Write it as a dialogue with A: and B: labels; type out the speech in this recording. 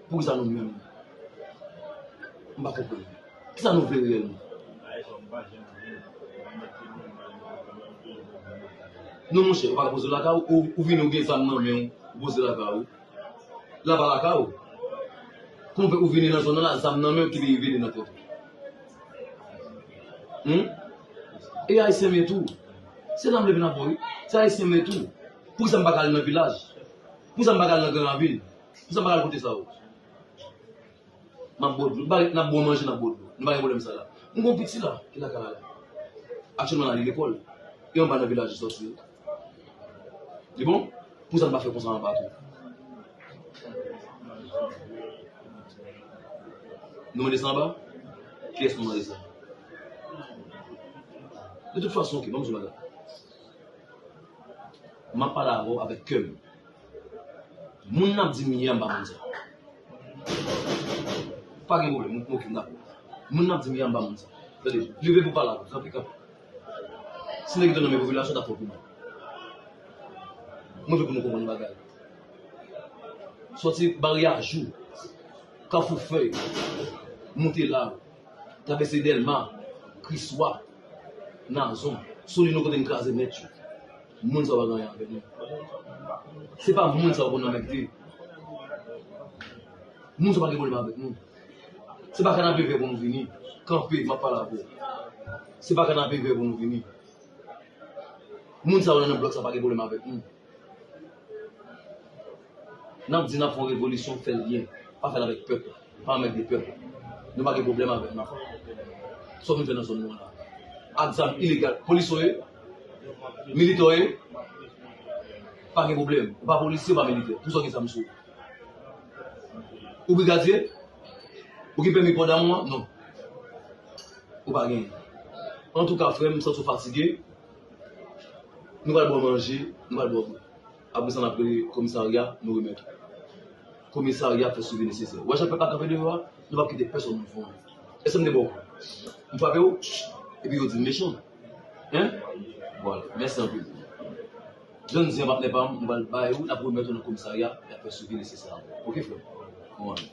A: Pou kisa nou menm? M pa konprann. Kisa nou vle reyèlman? Non monchè, ou pa ka poze l lakay ou, ou vini ou gen zam nan men ou, ou poze l lakay ou. La pa lakay ou. Kouman fè ou vini nan zòn nan la zam nan men ou ki rive li nan tèt ou? Hum? E ayisyen m ye tou. Se la m leve nan pò wi. Se ayisyen m ye tou. Pou kisa m pa ka al nan vilaj? Pou sa m pa ka al nan gran ravin? Pou sa m pa ka al kote sa yo? M ap bwè dlo. Nou pa ret, n ap bwè manje, n ap bwè dlo. Nou pa gen pwoblèm sa la. M gen yon piti la ki lakay la. Aktyèlman l ale lekòl. E anba nan vilaj li sòti yo? Li bon? Pou sa n pa fè konsa anba tou? Nou mande sa anba? Kiyès nou mande sa? Detout fason, ok, ban m sou bagay. Map pale avèw avèk kèm. Moun nap di mye a mpa moun sa. Pa gen pwoblèm nou pran okenn dako. Moun nap di mye a mpa moun sa. Tande, leve pou pale avèm tanpri kanpe. Si nèg yo te nan men popilasyon tap fè w pi mal. Mwen vle pou nou konprann yon bagay. Sòti Barye a Jou, Kafou Fèy, moute la, travèse Dèlma, Kriswa. Nazon. Sou li nou kote n kraze nèt yo. Moun sa yo pa gen anyen avè nou. Se pa moun sa yo pou n anmègde. Moun sa yo pa gen pwoblèm avèk nou. Se pa kanapevè pou nou vini. Kanpe, m ap pale avè w. Se pa kanapevè pou nou vini. Moun sa yo nan blòk sa yo pa gen pwoblèm avèk nou. Nap di nap fè yon revolisyon fèl byen pa fèl avèk pèp pa anmède pèp nou pa gen problèm avèl nap fè sa nou vle fè nan zòn nou an la ak zam ilegal polis ou ye militè ou ye pa gen problèm ou pa polisye ou pa militè pou sa ou gen zam sou ou ou brigadye ou gen pèmi pò damou an non ou pa genyen antouka frèm m santi ou fatige. Nou pral ba w manje, nou pral ba w dlo. Apre sa n ap rele komisarya, nou remèt ou. Komisarya fè swivi nesesè. Wè jan pèp la kanpe deyò a, nou pap kite pèsonn moun fè anyen. Èske m te ba w kou? M frape w? Epi yo di m mechan. Hein? Vwala. Mèsi anpil. Jwenn zen an patnè pa m, nou pral bay ou, n ap remèt ou nan komisarya, y ap fè swivi nesesè ankò. Ok frè m? Bon anyen.